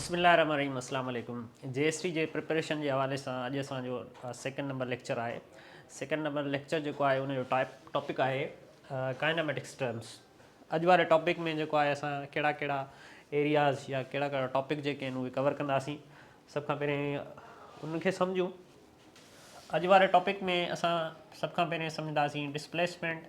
بسم الله الرحمٰن الرحيم اسلام عليڪم جي ايس ٽي جي پريپريشن جي حوالي سان اڄ اسان جو سيڪنڊ نمبر ليڪچر آهي سيڪنڊ نمبر ليڪچر جيڪو آهي ان جو ٽائپ ٽاپڪ آهي ڪائناميٽڪس ٽرمس اڄ واري ٽاپڪ ۾ جيڪو آهي اسان ڪهڙا ڪهڙا ايرياز يا ڪهڙا ڪهڙا ٽاپڪ جيڪي آهن اهي ڪور ڪنداسين سڀ کان پهرين انهن کي سمجھون اج وارے ٹاپک میں اسان سب کا پہلے سمجھداسین ڈسپلیسمنٹ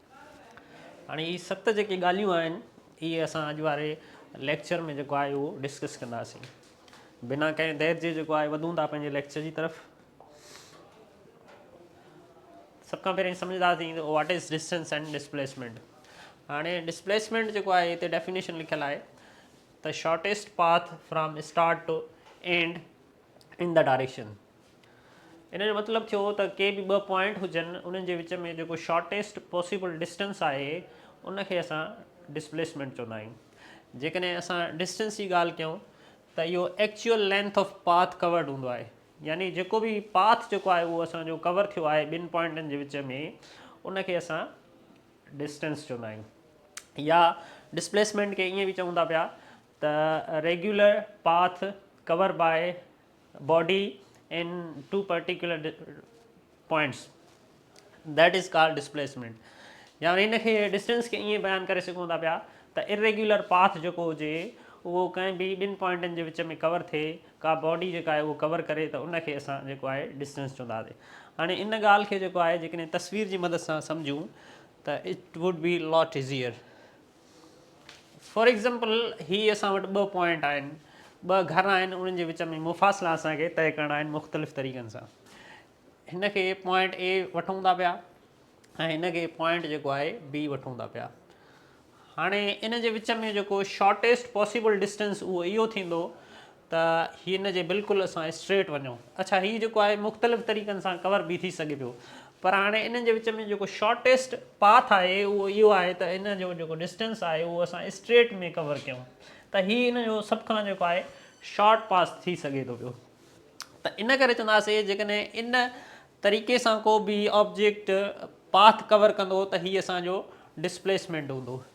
هاڻي هي ست جيڪي ڳالهيون آهن اهي اسان اڄ واري ليڪچر ۾ جيڪو آهي اهو ڊسڪس ڪنداسين بنا ڪنهن دير جي جيڪو آهي وڌون ٿا پنهنجي ليڪچر جي طرف سڀ کان پهرين سمجھداسين ته what is distance and displacement هاڻي ڊسپليسمنٽ جيڪو آهي هتي ڊيفينيشن لکيل آهي ته shortest path from start to end in the direction ان جو مطلب ٿيو ته ڪي به ٻه پوائنٽ هجن انهن جي وچ ۾ جيڪو شارٽيسٽ پاسيبل ڊسٽنس آهي ان کي اسان ڊسپليسمينٽ چوندا آهيون جيڪڏهن اسان ڊسٽنس جي ڳالهه ڪيون ته اهو actual length of path covered هوندو آهي يعني جيڪو به پاٿ جيڪو آهي اهو اسان جو ڪور ٿيو آهي ٻن پوائنٽن جي وچ ۾ ان کي اسان ڊسٽنس چوندا آهيون يا ڊسپليسمينٽ کي ائين به چون ٿا پيا ته regular path cover by body in to particular points that is called displacement يا ان کي ڊسٽنس کي ائين بيان ڪري سگهون ٿا پيا ته اريگيولر پاٿ جيڪو هجي اهو ڪنهن به ٻن پوائنٽن جي وچ ۾ ڪور ٿئي ڪا باڊي جيڪا آهي اهو ڪور ڪري ته ان کي اسان جيڪو آهي ڊسٽنس چونداسي هاڻي ان ڳالهه کي جيڪو آهي جيڪڏهن تصوير جي مدد سان سمجهون ته it would be lot easier for example هي اسان وٽ ٻه پوائنٽ آهن ٻه گهر آهن انهن جي وچ ۾ مفاصلا اسان کي طئي ڪرڻا آهن مختلف طريقن سان هن کي پوائنٽ اي وٺون ٿا پيا ۽ هن کي پوائنٽ جيڪو آهي بي وٺون ٿا پيا هاڻي ان جي وچ ۾ جيڪو شارٽيسٽ پاسبل ڊسٽنس اهو اهو ٿيندو ته هن جي بلڪل اسان اسٽريٽ وڃو اڇا هي جيڪو آهي مختلف طريقن سان ڪور به ٿي سگهي پيو پر هاڻي انهن جي وچ ۾ جيڪو شارٽيسٽ پاٿ آهي اهو اهو آهي ته ان جو جيڪو ڊسٽينس آهي اهو اسان اسٽريٽ ۾ ڪور ڪيون ته هي ان جو سڀ کان جيڪو آهي شارٽ پاس ٿي سگهي ٿو پيو ته ان ڪري چونداسي جيڪڏهن ان طريقي سان ڪو به آبجيڪٽ پاٿ ڪور ڪندو ته هي اسانجو ڊسپليسمينٽ هوندو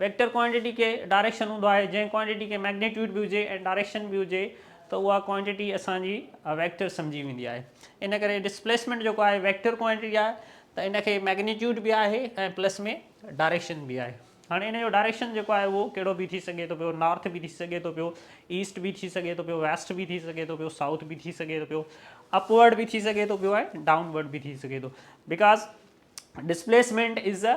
ويڪٽر ڪوانٽيٽي کي ڊائريڪشن هوندو آهي جنهن ڪوانٽيٽي کي مئگنيٽيوڊ به هجي ۽ ڊائريڪشن به هجي ته اها ڪوانٽيٽي اسان جي ويڪٽر سمجهي ويندي آهي ان ڪري ڊسپليسمينٽ جيڪو آهي ويڪٽر ڪوانٽيٽي آهي ته ان کي مئگنيٽيوڊ به آهي ۽ پلس ۾ ڊائريڪشن به آهي هاڻي ان جو ڊائريڪشن جيڪو آهي اهو ڪهڙو به ٿي سگهي ٿو پيو نارٿ به ٿي سگهي ٿو پيو ايسٽ به ٿي سگهي ٿو پيو ويسٽ به ٿي سگهي ٿو پيو سائوٿ به ٿي سگهي ٿو پيو اپورڊ به ٿي سگهي ٿو پيو ۽ ڊائونورڊ به ٿي سگهي ٿو بڪاز ڊسپليسمينٽ از ا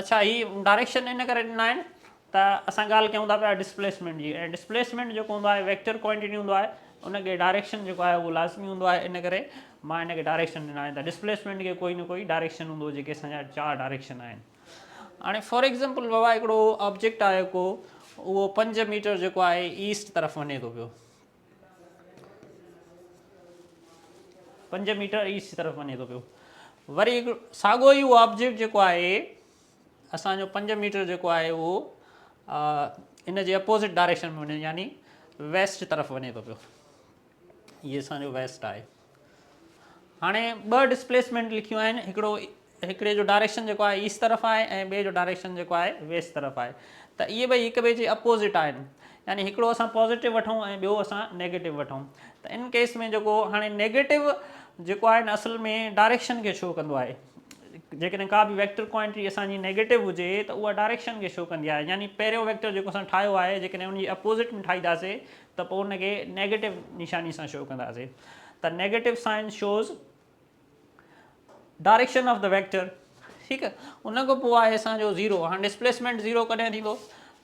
اڇا هي ڊائريڪشن ان ڪري ڏنا آهن ته اسان ڳالهه ڪيون ٿا پيا ڊسپليسمينٽ جي ۽ ڊسپليسمينٽ جيڪو هوندو آهي ويڪٽر ڪوانٽيٽي هوندو آهي ان کي ڊائريڪشن جيڪو آهي اهو لازمي هوندو آهي ان ڪري مان هن کي ڊائريڪشن ڏنا آهن ته ڊسپليسمينٽ کي ڪوئي نه ڪوئي ڊائريڪشن هوندو جيڪي اسان جا چار ڊائريڪشن آهن هاڻي فار ايگزامپل بابا هڪڙو آبجيڪٽ آهي ڪو اهو پنج ميٽر جيڪو آهي ايسٽ طرف وڃي ٿو پيو پنج ميٽر ايسٽ طرف وڃي ٿو پيو وري هڪ ساڳو ئي اهو آبجيڪٽ جيڪو آهي اسانجو پنج ميٽر جيڪو آهي اهو ان جي اپوزٽ ڊائريڪشن ۾ وڃي يعني ويسٽ طرف وڃي ٿو پيو هي اسانجو ويسٽ آهي هاڻي ٻه ڊسپليسمينٽ لکيون آهن هڪڙو هڪڙي جو ڊائريڪشن جيڪو آهي ايسٽ طرف آهي ۽ ٻئي جو ڊائريڪشن جيڪو آهي ويسٽ طرف آهي ته اهي ٻئي هڪ ٻئي جي اپوزٽ آهن يعني هڪڙو اسان پازيٽو وٺون ۽ ٻيو اسان نيگيٽو وٺون ته ان ڪيس ۾ جيڪو هاڻي نيگيٽو جيڪو آهي نه اصل ۾ ڊائريڪشن کي شو ڪندو آهي جيڪڏهن ڪا به ويڪٽر ڪوانٽي اسان جي نيگيٽو هجي ته اها ڊائريڪشن کي شو ڪندي آهي يعني پهريون ويڪٽر جيڪو اسان ٺاهيو آهي جيڪڏهن ان جي اپوزٽ ۾ ٺاهينداسي ته پوء ان کي نيگيٽو نشاني سان شو ڪنداسين ته negative sign shows direction of the vector ٺيڪ آهي ان کان پوء آهي اسان جو زيرو هاڻي ڊسپليسمينٽ زيرو ڪڏهن ٿيندو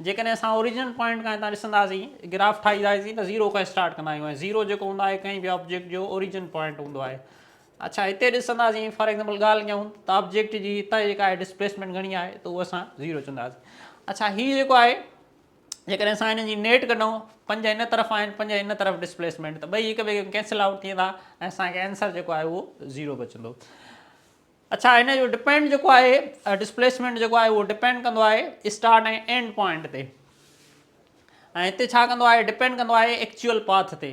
جيڪڏهن اسان اوريجنل پوائنٽ کان هتان ڏسنداسين گراف ٺاهينداسين ته زيرو کان اسٽارٽ ڪندا آهيون زيرو جيڪو هوندو آهي ڪنهن به آبجيڪٽ جو اوريجن پوائنٽ هوندو آهي اچھا هتي ڏسنداسين فار ايگزامپل ڳالهه ڪيون ته آبجيڪٽ جي هتان جيڪا آهي ڊسپليسمينٽ گھڻي آهي ته اهو اسان زيرو چونداسين اچھا هي جيڪو آهي جيڪڏهن اسان هنن جي نيٽ ڪڍون پنج هن طرف آهن پنج هن طرف ڊسپليسمينٽ ته ٻئي هڪ ٻئي کي ڪينسل آئوٽ ٿي ويندا ۽ اسان کي آنسر جيڪو آهي اهو زيرو بچندو اڇا هن جو ڊپينڊ جيڪو آهي ڊسپليسمينٽ جيڪو آهي اهو ڊپينڊ ڪندو آهي اسٽارٽ ۽ اينڊ پوائنٽ تي ۽ هتي ڇا ڪندو آهي ڊپينڊ ڪندو آهي ايڪچوئل پاٿ تي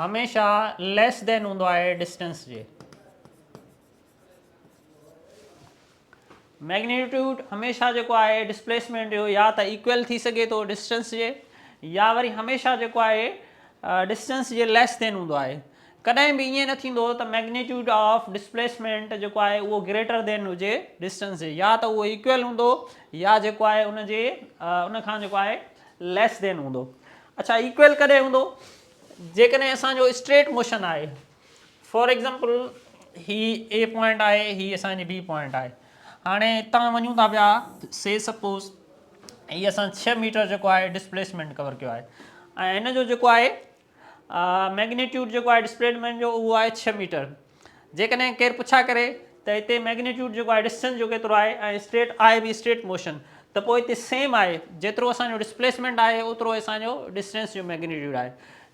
هميشه ليس دين هوندو آهي ڊسٽنس جي ميگنيٽيوڊ هميشه جيڪو آهي ڊسپليسمينٽ جو يا ته ايڪويل ٿي سگهي ٿو ڊسٽنس جي يا وري هميشه جيڪو آهي ڊسٽنس جي ليس دين هوندو آهي ڪڏهن به ائين نه ٿيندو ته ميگنيٽيوڊ آف ڊسپليسمينٹ جيڪو آهي اهو گريٽر دين هجي ڊسٽنس جي يا ته اهو ايڪويل هوندو يا جيڪو آهي ان جي ان کان جيڪو آهي ليس ڌين هوندو. اڇا ايڪوئل ڪڏهن هوندو؟ جيڪڏهن اسان جو اسٽريٽ موشن آهي فار ايگزامپل هي اي پوائنٽ آهي هي اسان جي بي پوائنٽ آهي هاڻي هتان وڃون ٿا پيا سي سپوز هي اسان ڇهه ميٽر جيڪو آهي ڊسپليسمينٽ ڪور ڪيو آهي ۽ هن جو جيڪو آهي مئگنيٽيوڊ جيڪو آهي ڊسپليڊ مين جو اهو آهي ڇهه ميٽر جيڪڏهن ڪير پڇا ڪري ته هتي مئگنيٽيوڊ جيڪو آهي ڊسٽنس جو ڪيترو آهي ۽ اسٽريٽ آهي به اسٽريٽ موشن ته پوء هتي سيم آهي جيترو اسان جو ڊسپليسمنٽ آهي اوترو اسان جو ڊسٽنس جو مئگنيٽيوڊ آهي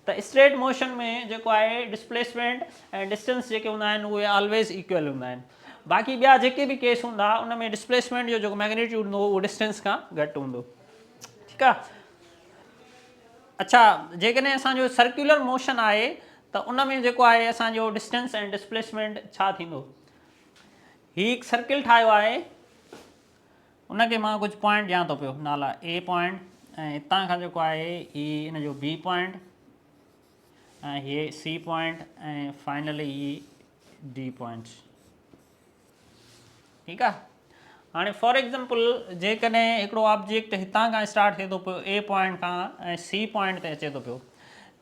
ته اسٽريٽ موشن ۾ جيڪو آهي ڊسپليسمنٽ ۽ ڊسٽنس جيڪي هوندا آهن اهي آلويز ايڪول هوندا آهن باقي ٻيا جيڪي به ڪيس هوندا ان ۾ ڊسپليسمنٽ جو جيڪو مئگنيٽيوڊ هوندو اهو ڊسٽنس کان گهٽ هوندو ٺيڪ آهي اڇا جيڪڏهن اسان جو سرڪيولر موشن آهي ته ان ۾ جيڪو آهي اسان جو ڊسٽنس ۽ ڊسپليسمينٽ ڇا ٿيندو هي هڪ سرڪل ٺاهيو آهي ان کي مان ڪجهه پوائنٽ ڏيان ٿو پيو نالا اي پوائنٽ ۽ هتان کان جيڪو آهي هي ان جو بي پوائنٽ ۽ هي سي پوائنٽ ۽ فائنلي هي ڊي پوائنٽ ٺيڪ آ هاڻي فار ايگزامپل جيڪڏهن هڪڙو آبجيڪٽ هتان کان اسٽارٽ ٿئي ٿو پيو اي پوائنٽ کان ۽ سي پوائنٽ تي اچي ٿو پيو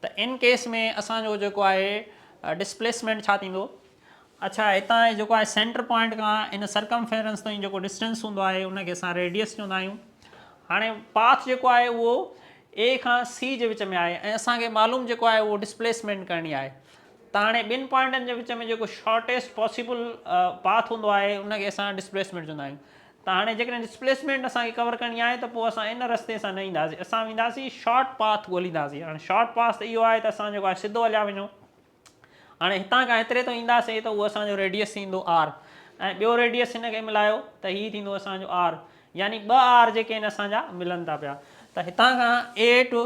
ته ان ڪيس ۾ اسان جو جيڪو آهي ڊسپليسمينٽ ڇا ٿيندو اڇا هتان جيڪو آهي سينٽر پوائنٽ کان ان سرڪمفيرنس تائين جيڪو ڊسٽنس هوندو آهي ان کي اسان ريڊيس چوندا آهيون هاڻي پاٿ جيڪو آهي اهو اي کان سی جي وچ ۾ آهي ۽ اسان کي معلوم جيڪو آهي اهو ڊسپليسمينٹ ڪرڻي آهي ته هاڻي ٻن پوائنٽن جي وچ ۾ جيڪو شارٽيسٽ پاسيبل پاٿ هوندو آهي ان کي اسان ڊسپليسمينٽ چوندا آهيون ته هاڻي جيڪڏهن ڊسپليسمينٽ اسان کي ڪور ڪرڻي آهي ته پوء اسان ان رستي سان نه اينداسين اسان وينداسين شارٽ پاٿ ڳولينداسين هاڻي شارٽ پاس ته اهو آهي ته اسان جيڪو آهي سڌو هليا وڃو هاڻي هتان کان هيتري تائين اينداسين ته اهو اسان جو ريڊيس ٿيندو آر ۽ ٻيو ريڊيس هن کي ملايو ته هي ٿيندو اسان جو آر يعني ٻه آر جيڪي آهن اسان جا ملن ٿا پيا ته هتان کان اي ٽو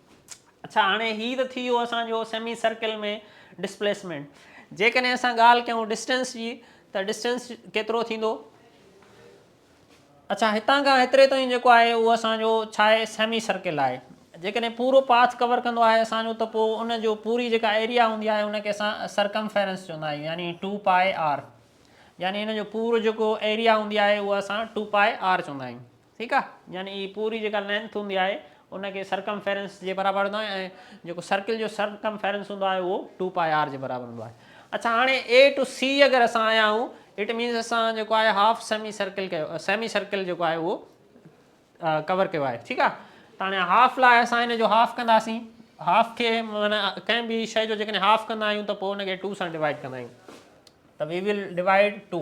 اڇا هاڻي هي ته ٿي ويو اسان جو سيمي سرڪل ۾ ڊسپليسمينٽ جيڪڏهن اسان ڳالهه ڪيون ڊسٽنس جي ته ڊسٽنس ڪيترو ٿيندو اڇا هتان کان هيتري تائين جيڪو آهي اهو اسان جو ڇا آهي سيمي سرڪل آهي جيڪڏهن پورو پاٿ ڪور ڪندو آهي اسان جو ته پوء ان جو پوري جيڪا ايريا هوندي آهي ان کي اسان سرڪم فيرنس چوندا آهيون يعني ٽو پائي آر يعني ان جو پورو جيڪو ايريا هوندي آهي اهو اسان ٽو پائي آر چوندا آهيون ٺيڪ آ يعني هي پوري جيڪا لينٿ هوندي آهي ان کي سرڪمفيرنس جي برابر وٺندا آهيون ۽ جيڪو سرڪل جو سرڪمفيرنس هوندو آهي اهو ٽو پائي آر جي برابر هوندو آهي اڇا هاڻي اي ٽو سي اگر اسان آيا آهيون اٽ مينز اسان جيڪو آهي هاف سيمي سرڪل ڪيو سيمي سرڪل جيڪو آهي اهو ڪور ڪيو آهي ٺيڪ آ ته هاڻي هاف لاء اسان هن جو هاف ڪنداسين هاف کي معنی ڪنهن به شي جو جيڪڏهن هاف ڪندا آهيون ته پوء ان کي ٽو سان ڊوائڊ ڪندا آهيون ته وي ول ڊوائڊ ٽو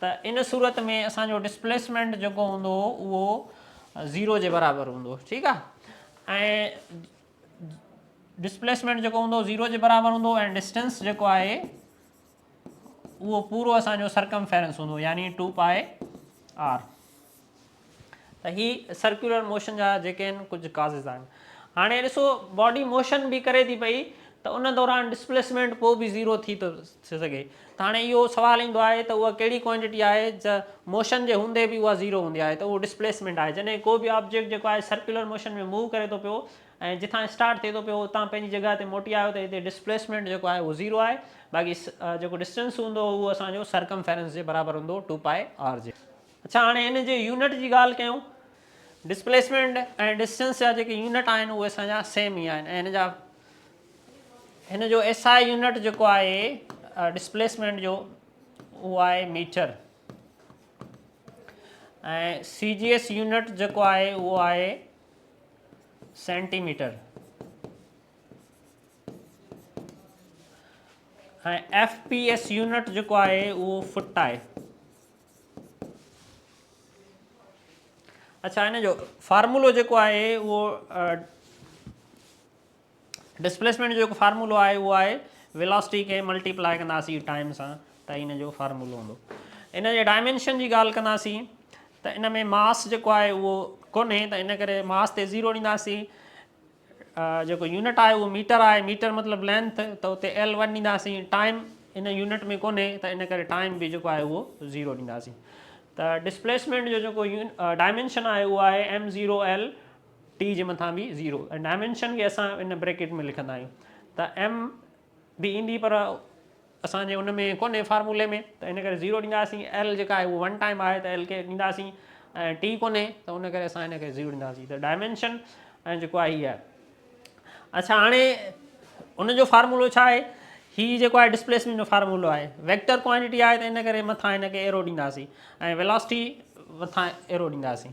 ته ان صورت ۾ اسان جو ڊسپليسمينٽ جيڪو هوندو اهو زيرو جي برابر هوندو ٺيڪ آ ۽ ڊسپليسمينٽ جيڪو هوندو زيرو جي برابر هوندو ۽ ڊسٽنس جيڪو آهي اهو پورو اسان جو سرڪم فيرنس هوندو يعني ٽو پائي آر ته هي سرڪيولر موشن جا جيڪي آهن ڪجهه ڪازز آهن هاڻي ڏسو باڊي موشن به ڪري ٿي پئي ته ان دوران ڊسپليسمينٽ پوء به زيرو ٿي ٿو سگهي ته هاڻي اهو سوال ايندو آهي ته اها ڪهڙي ڪوانٽيٽي آهي جا موشن جي هوندي به اها زيرو هوندي آهي ته اهو ڊسپليسمينٽ آهي جڏهن ڪو به آبجيڪٽ جيڪو آهي سرڪيولر موشن ۾ موو ڪري ٿو پيو ۽ جتان اسٽارٽ ٿئي ٿو پيو اتان پنهنجي جڳهه تي موٽي آيو ته هتي ڊسپليسمينٽ جيڪو آهي اهو زيرو آهي باقي جيڪو ڊسٽنس هوندو اهو اسانجو سرڪم فيرنس جي برابر هوندو ٽو پائي آر جي اڇا هاڻي ان جي يونٽ جي ڳالهه ڪيون. ڊسپليسمينٽ ۽ ڊسٽنس جا جيڪي يونٽ آهن اهي اسان جا سيم ئي آهن ۽ هن جا هن جو ايس آء يونٽ جيڪو آهي ڊسپليسمينٽ جو اهو آهي metre ۽ C G S unit جيڪو آهي اهو آهي centimetre ۽ F P S unit جيڪو آهي اهو فٽ آهي اڇا هن جو فارمولو جيڪو آهي اهو ڊسپليسمينٽ جو جيڪو فارمولو آهي اهو آهي ويلاسٽي کي ملٽيپلائي ڪنداسي ٽائم سان ته هن جو فارمولو هوندو ان جي ڊائمينشن جي ڳالهه ڪنداسي ته ان ۾ ماس جيڪو آهي اهو ڪونهي ته ان ڪري ماس تي ذيرو ڏينداسي جيڪو يونٽ آهي اهو ميٽر آهي، ميٽر مطلب لينٿ ته اتي ايل ون ڏينداسين، ٽائيم ان يونٽ ۾ ڪونهي ته ان ڪري ٽائيم به جيڪو آهي اهو زيرو ڏينداسين ته ڊسپليسمينٽ جو جيڪو ڊائمينشن آهي اهو آهي ايم زيرو ايل ٽي جي مٿان به زيرو ۽ ڊائمينشن کي اسان ان بريڪيٽ ۾ لکندا آهيون ته ايم به ايندي پر اسان جي ان ۾ ڪونهي فارمولي ۾ ته ان ڪري زيرو ڏينداسين ايل جيڪا آهي اهو ون ٽائيم آهي ته ايل کي ڏينداسين ۽ ٽي ڪونهي ته ان ڪري اسان ان کي زيرو ڏينداسين ته ڊائمينشن ۽ جيڪو آهي هي آهي اچھا هاڻي ان جو فارمولو ڇا آهي هي جيڪو آهي ڊسپليسمينٽ جو فارمولو آهي ويڪٽر ڪوانٽيٽي آهي ته ان ڪري مٿان هن کي ايرو ڏينداسين ۽ ويلاسٽي مٿان ايرو ڏينداسين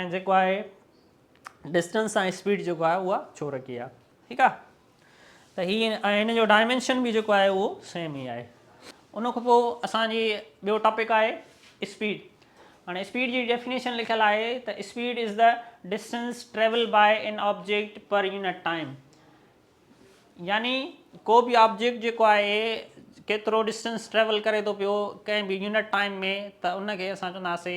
۽ جيڪو آهي ڊسٽنس سان اسپيڊ جيڪو آهي اها ڇو رکي آهي ٺيڪ آهي ته هي ۽ هن جو ڊائمينشن به جيڪو آهي اهو سيم ئي آهي ان کان پوء اسان جي ٻيو ٽاپڪ آهي اسپيڊ هاڻي اسپيڊ جي ڊيفينيشن لکيل آهي ته speed is the distance travel by an object per unit time يعني ڪو به آبجيڪٽ جيڪو آهي ڪيترو ڊسٽنس ٽريول ڪري ٿو پيو ڪنهن به يونٽ ٽائيم ۾ ته ان کي اسان چونداسي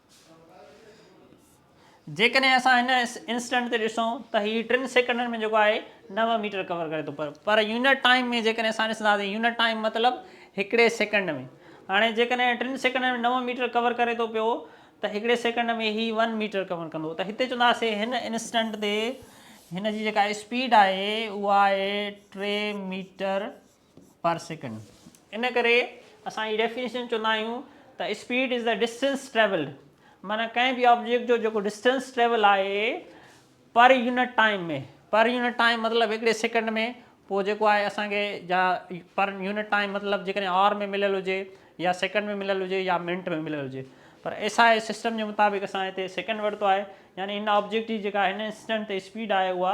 جيڪڏهن اسان هن انسٽنٽ تي ڏسون ته هي ٽن سيڪنڊن ۾ جيڪو آهي نو ميٽر ڪور ڪري ٿو پر پر يونٽ ٽائيم ۾ جيڪڏهن اسان ڏسنداسين يونٽ ٽائيم مطلب هڪڙي سيڪنڊ ۾ هاڻي جيڪڏهن ٽن سيڪنڊن ۾ نو ميٽر ڪور ڪري ٿو پيو ته هڪڙي سيڪنڊ ۾ هي ون ميٽر ڪور ڪندو ته هتي چونداسي هن انسٽنٽ تي هن جي جيڪا اسپيڊ آهي اها آهي ٽي ميٽر پر سيڪنڊ ان ڪري اسان هي ڊيفينيشن چوندا آهيون ته speed is the distance travelled معنيٰ ڪنهن به آبجيڪٽ جو جيڪو ڊسٽنس ٽريول آهي per unit time ۾ per unit time مطلب هڪڙي سيڪنڊ ۾ پوء جيڪو آهي اسان کي جا پر يونٽ ٽائيم مطلب جيڪڏهن آر ۾ مليل هجي يا سيڪنڊ ۾ مليل هجي يا منٽ ۾ مليل هجي پر ايس آء سسٽم جي مطابق اسان هتي سيڪنڊ ورتو آهي يعني هن آبجيڪٽ جي جيڪا هن انسٽنٽ تي اسپيڊ آهي اها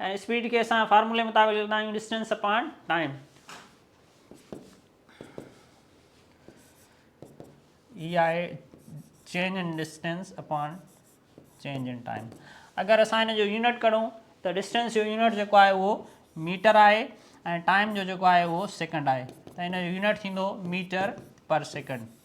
۽ اسپيڊ کي اسان فارمولي مطابق لکندا آهيون ڊسٽينس اپان ٽائيم هي آهي change in distance upon change in time اگر اسان هن جو يونٽ ڪڍون ته ڊسٽينس جو يونٽ جيڪو آهي اهو ميٽر آهي ۽ ٽائيم جو جيڪو آهي اهو سيڪنڊ آهي ته هن جو يونٽ ٿيندو ميٽر پر سيڪنڊ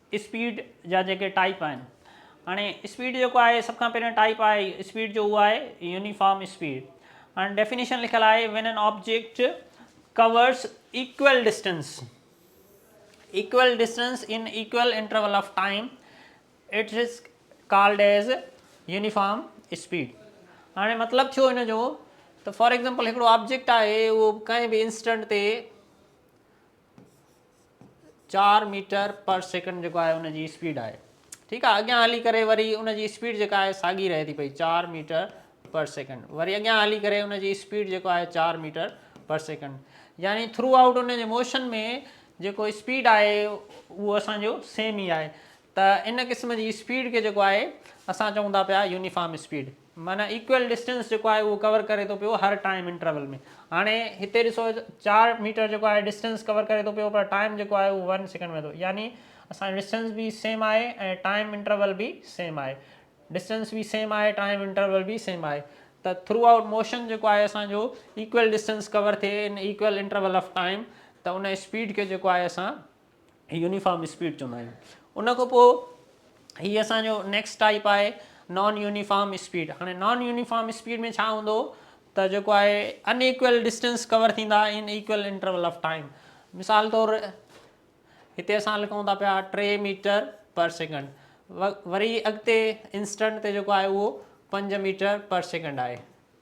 اسپيڊ جا جيڪي ٽائيپ آهن هاڻي اسپيڊ جيڪو آهي سڀ کان پهريون ٽائيپ آهي اسپيڊ جو اهو آهي يونيفارم اسپيڊ هاڻي ڊيفينيشن لکيل آهي when an object covers equal distance equal distance in equal interval of time it is called as uniform speed هاڻي مطلب ٿيو هن جو ته فار ایگزامپل هڪڙو آبجيڪٽ آهي اهو ڪنهن به انسٽنٽ تي چار ميٽر پر سيڪنڊ جيڪو آهي ان جي اسپيڊ آهي ٺيڪ آهي اڳيان هلي ڪري وري ان جي اسپيڊ جيڪا آهي ساڳي رهي ٿي پئي چار ميٽر پر سيڪنڊ وري اڳيان هلي ڪري ان جي اسپيڊ جيڪو آهي چار ميٽر پر سيڪنڊ يعني ٿرو آؤٽ ان جي موشن ۾ جيڪو اسپيڊ آهي اهو اسانجو سيم ئي آهي ته ان قسم جي اسپيڊ کي جيڪو آهي اسان چئون ٿا پيا يونيفارم اسپيڊ معنيٰ ايڪوئل ڊسٽنس جيڪو آهي اهو ڪور ڪري ٿو پيو هر ٽائيم انٽرول ۾ هاڻي هتي ڏسو چار ميٽر جيڪو آهي ڊسٽنس ڪور ڪري ٿو پيو پر ٽائيم جيڪو آهي اهو ون سيڪنڊ ۾ ٿو يعني اسان جو ڊسٽنس به سيم آهي ۽ ٽائيم انٽرول به سيم آهي ڊسٽنس به سيم آهي ٽائيم انٽرول به سيم آهي ته ٿرو آئوٽ موشن جيڪو آهي اسان جو ايڪوئل ڊسٽنس ڪور ٿئي in equal interval of time ته ان اسپيڊ کي جيڪو آهي اسان يونيفارم اسپيڊ چوندا آهيون ان کان پوء هي اسان جو نيڪسٽ ٽائپ آهي نان يونيفارم اسپيڊ هاڻي نان يونيفارم اسپيڊ ۾ ڇا هوندو ته جيڪو آهي ان ايڪول ڊسٽنس ڪور ٿيندا ان ايڪول انٽرول آف ٽائم مثال طور هتي اسان لکون ٿا پيا ٽي ميٽر پر سيڪنڈ وري اڳتي انسٽنٽ تي جيڪو آهي اهو پنج ميٽر پر سيڪنڈ آهي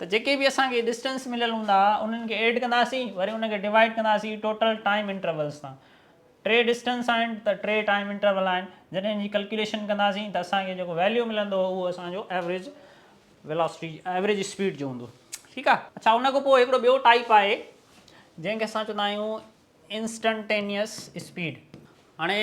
ته جيڪي به اسان کي ڊسٽنس مليل هوندا انهن کي ايڊ ڪنداسين وري ان کي ڊوائيڊ ڪنداسين ٽوٽل ٽائيم انٽرولز سان ٽي ڊسٽنس آهن ته ٽي ٽائيم انٽرول آهن جڏهن ان جي ڪلڪيوليشن ڪنداسين ته اسان کي جيڪو ويليو ملندو اهو اسان جو ايوریج ويلاسٽي ايوریج اسپيڊ جو هوندو ٺيڪ آهي اڇا ان کان پوء هڪڙو ٻيو ٽائيپ آهي جنهن کي اسان چوندا آهيون انسٽنٽينيس اسپيڊ هاڻي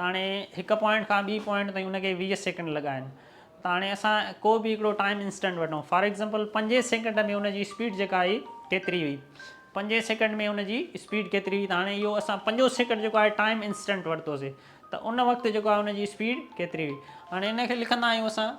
تاڻي هڪ پوائنٽ کان ٻي پوائنٽ تائين ان کي ويهه سيڪنڊ لڳا آهن تاڻي اسان ڪو به هڪڙو ٽائيم انسٽنٽ وٺون فار ايگزامپل پنجين سيڪنڊ ۾ ان جي اسپيڊ جيڪا آهي ڪيتري هئي پنجين سيڪنڊ ۾ ان جي اسپيڊ ڪيتري هئي ته هاڻي اهو اسان پنجون سيڪنڊ جيڪو آهي ٽائيم انسٽنٽ ورتوسي ته ان وقت جيڪو آهي ان جي اسپيڊ ڪيتري هئي هاڻي ان کي لکندا آهيون اسان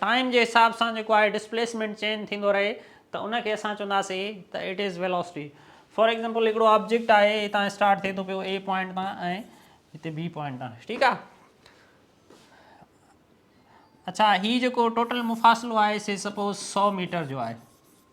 ٽائيم جي حساب سان جيڪو آهي ڊسپليسمينٽ چينج ٿيندو رهي ته ان کي اسان چونداسي ته it is velocity for example هڪڙو آبجيڪٽ آهي هتان اسٽارٽ ٿئي ٿو پيو اي پوائنٽ تان ۽ هتي بي پوائنٽ تان ٺيڪ آهي اچھا هي جيڪو ٽوٽل مفاصلو آهي سي سپوز سؤ ميٽر جو آهي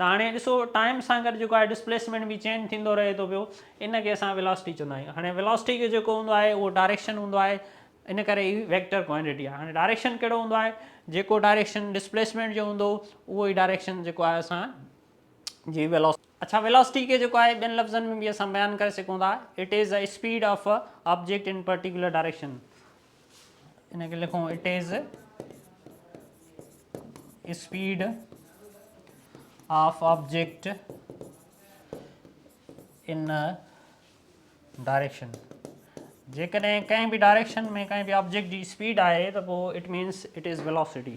ته هاڻي ڏسو ٽائيم سان گڏ جيڪو آهي ڊسپليسمينٽ به چينج ٿيندو رهي ٿو پيو ان کي اسان ويلاسٽي چوندا آهيون هاڻي ويلاسٽي جو جيڪو هوندو آهي اهو ڊائريڪشن هوندو آهي ان ڪري هي ويڪٽر ڪوانٽيٽي آهي هاڻي ڊائريڪشن ڪهڙو هوندو آهي جيڪو ڊائريڪشن ڊسپليسمينٽ جو هوندو اهو ئي ڊائريڪشن جيڪو آهي اسان جي ويلاسٽي اڇا ويلاسٽي کي جيڪو آهي ٻين لفظن ۾ به اسان بيان ڪري سگهون ٿا it is a speed of a object in particular direction ان کي لکون it is speed of object in direction جيڪڏهن ڪنهن به ڊائريڪشن ۾ ڪنهن به آبجيڪٽ جي اسپيڊ آهي ته پوء it means it is velocity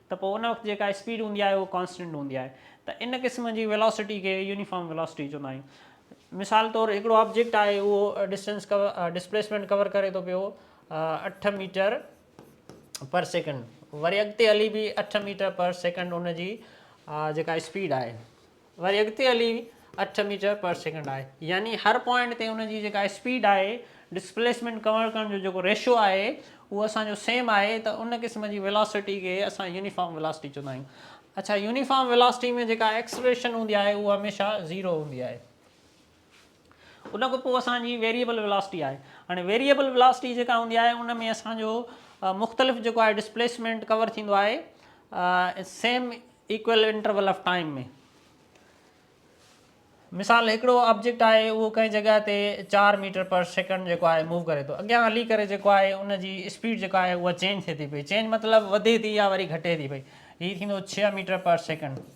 ته پوء ان وقت جيڪا اسپيڊ هوندي آهي اها ڪانسٽنٽ هوندي آهي ته ان قسم جي ويلاسٽي کي يونيفارم ويلاسٽي چوندا آهيون مثال طور هڪڙو آبجيڪٽ آهي اهو ڊسٽنس ڪور ڊسپليسمينٽ ڪور ڪري ٿو پيو اٺ ميٽر پر سيڪنڊ وري اڳتي هلي به اٺ ميٽر پر سيڪنڊ ان جي جيڪا اسپيڊ آهي وري اڳتي هلي اٺ ميٽر پر سيڪنڊ آهي يعني هر پوائنٽ تي ان جي جيڪا اسپيڊ آهي ڊسپليسمينٽ ڪور ڪرڻ جو جيڪو ريشو آهي اهو اسان جو سيم آهي ته ان قسم جي ويلاسٽي کي اسان يونيفارم ويلاسٽي چوندا آهيون اڇا يونيفارم ويلاسٽي ۾ جيڪا ايڪسلريشن هوندي آهي اهو هميشه زيرو هوندي آهي. ان کان پوء اسان جي ويريئبل ويلاسٽي آهي. هاڻي ويريئبل ويلاسٽي جيڪا هوندي آهي ان ۾ اسان جو مختلف جيڪو آهي ڊسپليسمينٽ ڪور ٿيندو آهي same equal interval of time ۾. مثال هڪڙو آبجيڪٽ آهي اهو ڪنهن جڳهه تي چار ميٽر پر سيڪنڊ جيڪو آهي موو ڪري ٿو اڳيان هلي ڪري جيڪو آهي ان جي اسپيڊ جيڪا آهي اها چينج ٿئي ٿي پئي چينج مطلب وڌي ٿي يا وري گهٽي ٿي پئي هي ٿيندو ڇهه ميٽر پر سيڪنڊ.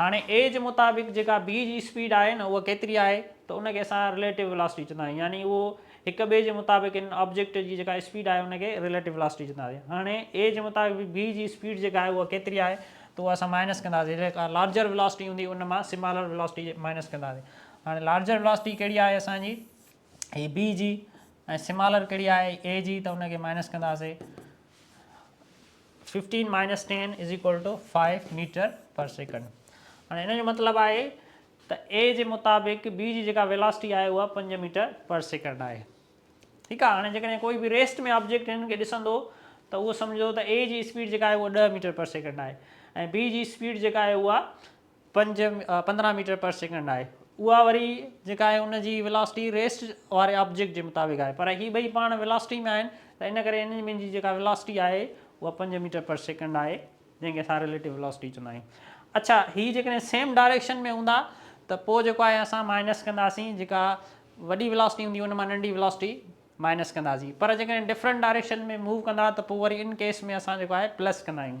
هاڻي اي جي مطابق جيڪا بي جي اسپيڊ آهي نه اها ڪيتري آهي ته ان کي اسان رليٽو ويلاسٽي چوندا آهيون يعني اهو هڪ ٻئي جي مطابق ان آبجيڪٽ جي جيڪا اسپيڊ آهي ان کي رليٽو ويلاسٽي چوندا آهيون هاڻي اي جي مطابق بي جي اسپيڊ جيڪا آهي اها ڪيتري آهي ته اها اسان مائنس ڪنداسين جيڪا لارجر ويلاسٽي هوندي ان مان سمالر ويلاسٽي جي مائنس ڪنداسين هاڻي لارجر ويلاسٽي ڪهڙي آهي اسان جي هي بي جي ۽ سمالر ڪهڙي آهي اي جي ته ان کي مائنس ڪنداسين fifteen minus ten is equal to five metre per second هاڻي ان جو مطلب آهي ته اي جي مطابق بي جي جيڪا ويلاسٽي آهي اها پنج ميٽر پر سيڪنڊ آهي ٺيڪ آهي هاڻي جيڪڏهن ڪوئي به ريسٽ ۾ آبجيڪٽ هنن کي ڏسندو ته اهو سمجھو ته اي جي اسپيڊ جيڪا آهي اها ڏهه ميٽر پر سيڪنڊ آهي ۽ بي جي اسپيڊ جيڪا آهي اها پنج پندرهن ميٽر پر سيڪنڊ آهي اها وري جيڪا آهي ان جي ويلاسٽي ريسٽ واري آبجيڪٽ جي مطابق آهي پر هي ٻئي پاڻ ويلاسٽي ۾ آهن ته ان ڪري انهن ٻنهي جي جيڪا ويلاسٽي آهي اها پنج ميٽر پر سيڪنڊ آهي جنهن کي اسان ريليٽو ويلاسٽي چوندا آهيون اڇا هي جيڪڏهن سيم ڊائريڪشن ۾ هوندا ته پوء جيڪو آهي اسان مائنس ڪنداسين جيڪا وڏي ويلاسٽي هوندي ان مان ننڍي ويلاسٽي مائنس ڪنداسين پر جيڪڏهن ڊفرنٽ ڊائريڪشن ۾ موو ڪندا ته پوء وري ان ڪيس ۾ اسان جيڪو آهي پلس ڪندا آهيون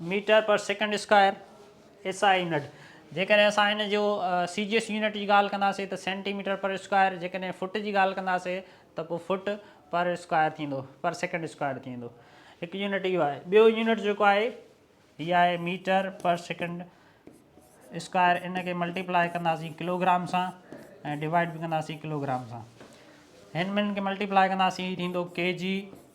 metre per second square, S I unit, جيڪڏهن اسان ان جو سي جي ايس يونٽ جي ڳالهه ڪنداسين ته سينٽي ميٽر پر اسڪوائر، جيڪڏهن فوٽ جي ڳالهه ڪنداسين ته پوء فوٽ پر اسڪوائر ٿيندو، پر سيڪنڊ اسڪوائر ٿي ويندو. هڪ يونٽ اهو آهي. ٻيو يونٽ جيڪو آهي هي آهي ميٽر پر سيڪنڊ اسڪوائر، ان کي ملٽيپلائي ڪنداسين ڪلو گرام سان ۽ ڊوائيڊ به ڪنداسين ڪلو گرام سان. هن ٻنهن کي ملٽيپلائي ڪنداسين هي ٿيندو ڪي جي.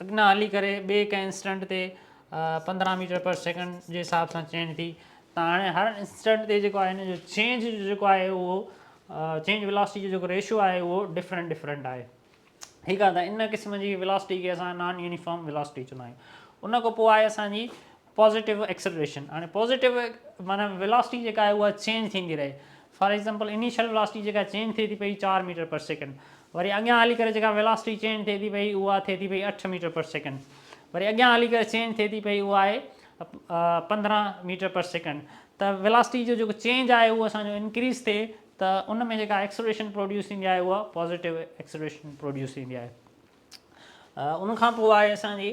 اڳنا هلي ڪري ٻئي ڪنهن انسٽنٽ تي پندرهن ميٽر پر سيڪنڊ جي حساب سان چينج ٿي ته هاڻي هر انسٽنٽ تي جيڪو آهي هن جو چينج جو جيڪو آهي اهو چينج ولاسٽي جو جيڪو ريشو آهي اهو ڊفرنٽ ڊفرنٽ آهي ٺيڪ آهي ته ان قسم جي ولاسٽي کي اسان نان يونيفارم ولاسٽي چوندا آهيون ان کان پوء آهي اسانجي پازيٽو ايڪسلريشن هاڻي پازيٽو معنيٰ ويلاسٽي جيڪا آهي اها چينج ٿيندي رهي فار ايگزامپل انيشل ويلاسٽي جيڪا چينج ٿئي ٿي پئي چار ميٽر پر سيڪنڊ وري اڳيان هلي ڪري جيڪا ويلاسٽي چينج ٿئي ٿي پئي اها ٿئي ٿي پئي اٺ ميٽر پر سيڪنڊ وري اڳيان هلي ڪري چينج ٿئي ٿي پئي اها آهي پندرهن ميٽر پر سيڪنڊ ته ويلاسٽي جو جيڪو چينج آهي اهو اسان جو انڪريز ٿئي ته ان ۾ جيڪا ايڪسلريشن پروڊيوس ٿيندي آهي اها پازيٽو ايڪسلريشن پروڊيوس ٿيندي آهي ان کان پوء آهي اسان جي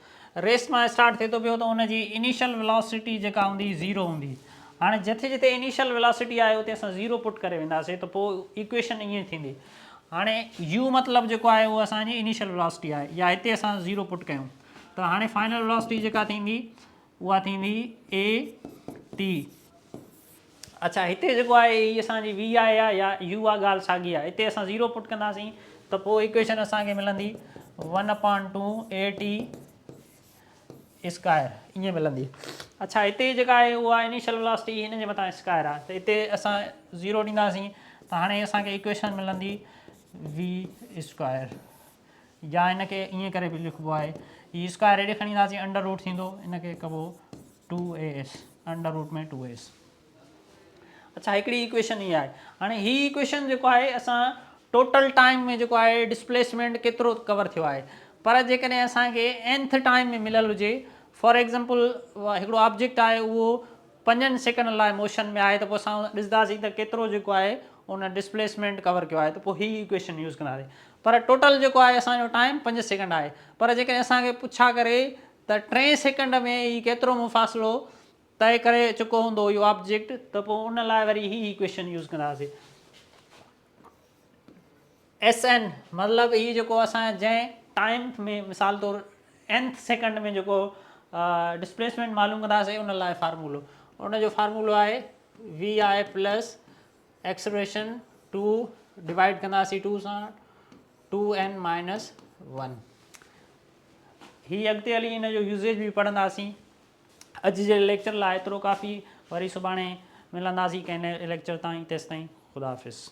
ريس مان اسٽارٽ ٿئي ٿو پيو ته ان جي انيشل ويلاسٽي جيڪا هوندي زيرو هوندي هاڻي جتي جتي انيشل ويلاسٽي آهي اتي اسان زيرو پٽ ڪري وينداسين ته پوء ايڪويشن ائين ٿيندي هاڻي يو مطلب جيڪو آهي اهو اسان جي انيشل ويلاسٽي آهي يا هتي اسان زيرو پٽ ڪيون ته هاڻي فائنل ويلاسٽي جيڪا ٿيندي اها ٿيندي اي ٽي اڇا هتي جيڪو آهي هي اسان جي وي آء آهي يا يو آ ڳالهه ساڳي آهي هتي اسان زيرو پٽ ڪنداسين ته پوء ايڪويشن اسان کي ملندي one upon two A T square ائين ملندي اچھا هتي جيڪا آهي اها انيشل ولاسٽي هن جي مٿان اسڪائر آهي ته هتي اسان زيرو ڏينداسين ته هاڻي اسانکي ايڪويشن ملندي وي اسڪوائر يا ان کي ائين ڪري به لکبو آهي هي اسڪوائر هيڏي کڻي اينداسين انڊر روٽ ٿيندو ان کي ڪبو two A S under root ۾ two S اچھا هڪڙي ايڪويشن هي آهي هاڻي هي ايڪويشن جيڪو آهي اسان ٽوٽل ٽائيم ۾ جيڪو آهي ڊسپليسمينٽ ڪيترو ڪور ٿيو آهي پر جيڪڏهن اسان کي اينٿ ٽائيم ۾ مليل هجي فار ايگزامپل هڪڙو آبجيڪٽ آهي اهو پنجن سيڪنڊن لاء موشن ۾ آهي ته پوء اسان ڏسنداسين ته ڪيترو جيڪو آهي ان ڊسپليسمينٽ ڪور ڪيو آهي ته پوء هي ايڪويشن يوز ڪنداسين پر ٽوٽل جيڪو آهي اسان جو ٽائيم پنج سيڪنڊ آهي پر جيڪڏهن اسان کي پڇا ڪري ته ٽئين سيڪنڊ ۾ هي ڪيترو مفاصلو طئي ڪري چڪو هوندو اهو آبجيڪٽ ته پوء ان لاء وري هي ايڪويشن يوز ڪنداسين. ايس اين مطلب هي جيڪو اسان جنهن ٽائيم ۾ مثال طور اينٿ سيڪنڊ ۾ جيڪو ڊسپليسمينٽ معلوم ڪنداسي ان لاء فارمولو ان جو فارمولو آهي V I plus acceleration two divide ڪنداسي ٽو سان ٽو اين مائنس ون هي اڳتي هلي ان جو يوزيج به پڙهنداسي اڄ جي ليڪچر لاء ايترو ڪافي وري سڀاڻي ملنداسي ڪنهن ليڪچر تائين تيسي تائين خدا حافظ